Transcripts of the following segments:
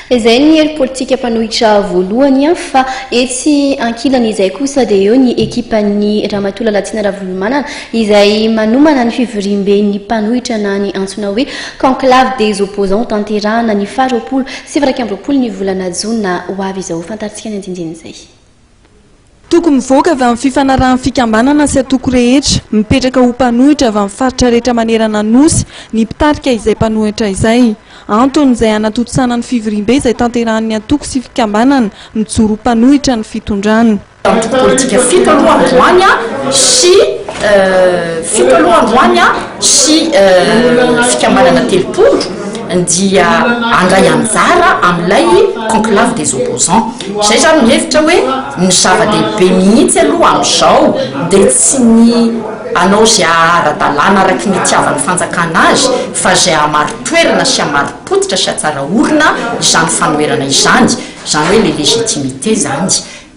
Izay ny hery politika mpanohitra voalohany fa etsy ankilany izay kosa dia eo ny ekipan'i Ramatoa Lalatsina Ravolomanana izay manomana ny fivoriamben'ny mpanohitra na ny antsoina hoe Conclave des opposants ho tanterahana ny faharoapolo sy iraika amby roapolo ny volana jona ho avy izao. Fantarintsika ny andinindin'izay. Toko mivoaka avy amin'ny fifanarahan'ny fikambanana sy antoko rehetra, mipetraka ho mpanohitra avy amin'ny faritra rehetra manerana ny Nosy, ny mpitarika izay mpanohitra izay. Antony izay hanatontosana ny fivoriambe izay tanterahan'ny antoko sy fikambanana mijoro ho mpanohitra ny fitondrana. Antoko politika fito aloha androany sy fito aloha androany sy fikambanana telopolo dia handray anjara amin'ilay conclave des opposants. Izay izaho no hevitra hoe ny zava-dehibe mihitsy aloha amin'izao dia tsy ny hanao izay haha-ara-dalàna araky ny itiavan'ny fanjakana azy fa izay hahamari-toerana sy hamari-pototra sy hatsara orina izany fanoherana izany, izany hoe ilay légitimité izany.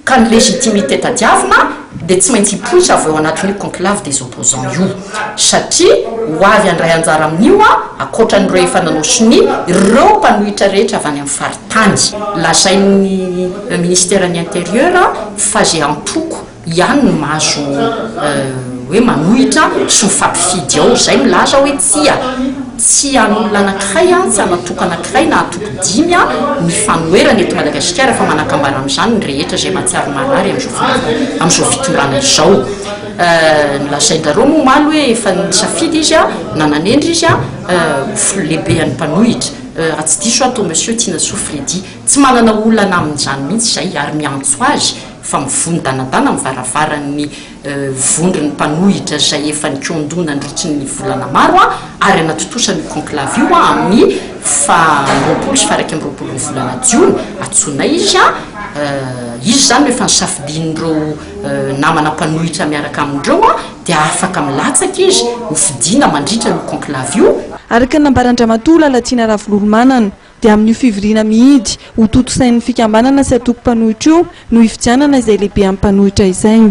Ka ny légitimité tadiavina. dia tsy maintsy hipoitra avy ao anatin'io conclave des opposants io, satria ho avy handray anjara amin'io an, ankoatran'ireo efa nanao sonia, ireo mpanohitra rehetra avy any amin'ny faritany. Lazain'ny Minisiteran'ny Intérieur fa izay antoko ihany no mahazo hoe manohitra sy ho fapifidy ao, izay milaza hoe tsia. Tsy an'olona anankiray, tsy an'antoko anankiray na antoko dimy ny fanoherana eto Madagasikara fa manakambara amin'izany ny rehetra izay mahatsiaro marary amin'izao fotoana, amin'izao fitondrana izao. Nolazain-dRarôma omaly hoe efa nisafidy izy na nanendry izy ho lehibe an'ny mpanohitra, raha tsy diso aho, toa Monsieur Tinasoa Freddy. Tsy manana olana amin'izany mihitsy izahay ary miantso azy fa mivono danadana amin'ny varavaran'ny. vondron'ny mpanohitra izay efa nikondo nandritry ny volana maro ary hanatontosa an'io conclave io amin'ny faha roapolo sy faha iraika amby roapolon'ny volana jiona atsonay izy a izy izany rehefa nisafidian'ireo namana mpanohitra miaraka amin'ireo a dia afaka milatsaka izy ho fidiana mandritra ny conclave io. Araka ny nambaran-dRamatoa Lalatiana Ravololomanana, dia amin'io fivoriana mihidy ho tontosain'ny fikambanana sy antoko mpanohitra io no hifidianana izay lehibe amin'ny mpanohitra izay.